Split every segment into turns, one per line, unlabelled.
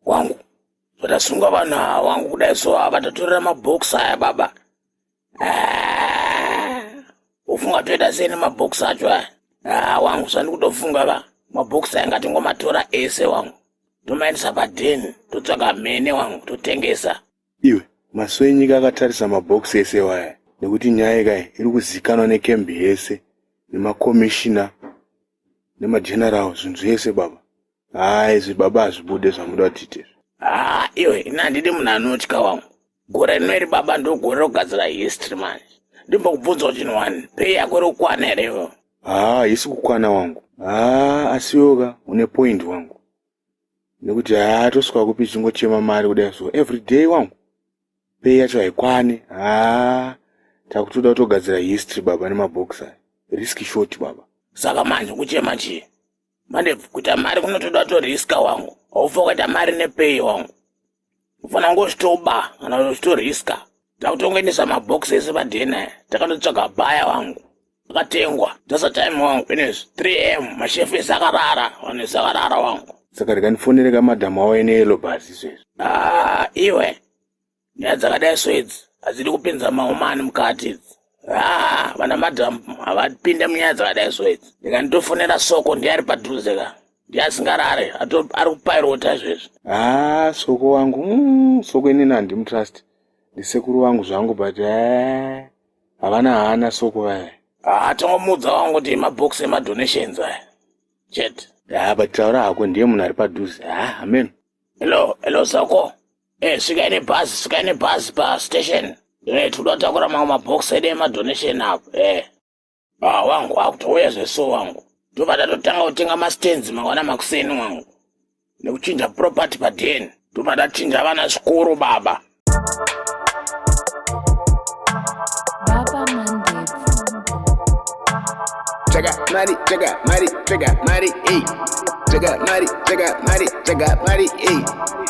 wangu vatasunga vanhu ava wangu kudai so ava vatatorera mabhokisi aya baba ah, ufunga toita sei nemabhokisi acho aya ah, wangu sandi kutofunga va mabhokisi aya ngatingomatora ese wangu tomaendesa padheni totsvaka mhene wangu totengesa iwe
maso enyika akatarisa mabhokisi ese waya nekuti nyaya ikai iri kuzikanwa nekembi yese nemakomishina nemageneral zvinhu zvese baba haa izvi baba hazvibude zvamuda kutite haa iwe
ini handidi munhu anotya wangu gore rino iri baba ndogore rokugadzira history manje ndimbokubvunzawo chinhu wani pei yako iri kukwana here ivo haa haisi kukwana
wangu haa asiwoka une point wangu nekuti haa tosvika kupi chingochema mari kudai so every day wangu pei yacho haikwane haa takutoda kutogadzira history baba nemabhox aya risk short baba saka manje kuchema
chii manje kuita mari kunotoda to riska wangu haufa kuita mari nepay wangu ufanira kungozvitoba kana kuzvito riska takutongoendesa mabox ese padna takatotsvaga baya wangu akatengwa tasa time wangu finish 3 m mashefu ese akarara vanhu ese akarara wangu saka rikandifonere
kamadhamu awo ene yelobhasi izvezvi ah, iwe
nyaya dzakadai so idzi hadzidi kupinza maomani mukati idzi haa vana madam havapinde munyaya dzakadai so idzi ndikanditofonera soko ndiye ari padhuze ka ndiye asingarare ari kupairota izvezvi haa soko
wangu mm, soko inini handimutrust ndisekuru wangu zvangu but eh, havana haana soko vaya haa tongomuudza
wangu kuti mabox emadonations aya chete haa but taura
hako ndiye munhu ari padhuze haa amen hello hello
soko Eh, svikai nebhazi svikai nebhazi pastation eh, tinoda kutakura mamwe mabhox edu emadonation apo eh. ah, wangu akutouya zveso wangu tobva tatotanga kutenga mastands mangwana makuseni wangu nekuchinja property paden tobva tachinja vana zvikoro baba
Check out money, check out money, check out money, hey. Check out money, check out money, check out money, hey.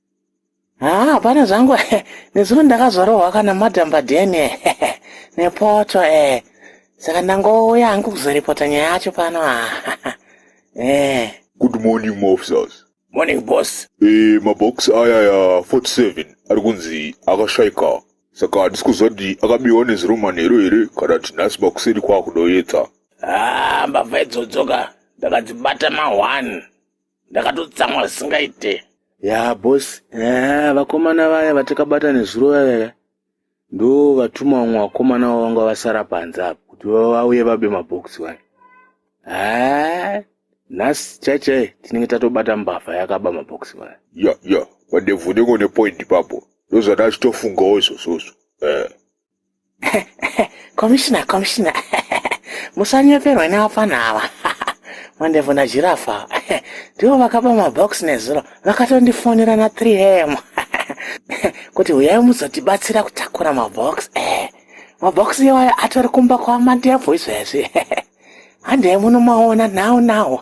haa hapana zvangu nezuro ndakazorovwa kana madhamba deni nepoto e saka ndangouya hangu kuzoripota nyaya yacho pano e
good morning maofficers morning boss
e mabox
aya ya 47 ari kunzi akashaika saka handisi kuziva kuti akabiwa neziromanhero here kana kuti nhasi makuseri kwaakudoyedza haa
mbavha idzodzoka ndakadzibata ma1 ndakatotsamwa zvisingaite ya bos
eh, vakomana vaya vatakabata nezuro vaya ndo vatuma vamwe vakomana vavo vanga vasara panze apo kuti vauye vabe mabhokisi vaya eh, nhasi chaichai tinenge tatobata mbavha yakaba mabhokisi vaya ya ya vadevhu
unenge une point papo ndozvandachitofungawo izvozvozvo eh.
komishina komishina musanyeperwe nevapfana ava mandevu najirafa ndivo vakaba mabox nezuro vakatondifonera na 3 am kuti huyai muzotibatsira kutakura mabox eh, mabox iwayo atori kumba kwamandevu izvezvi handei munomaona nhau nhau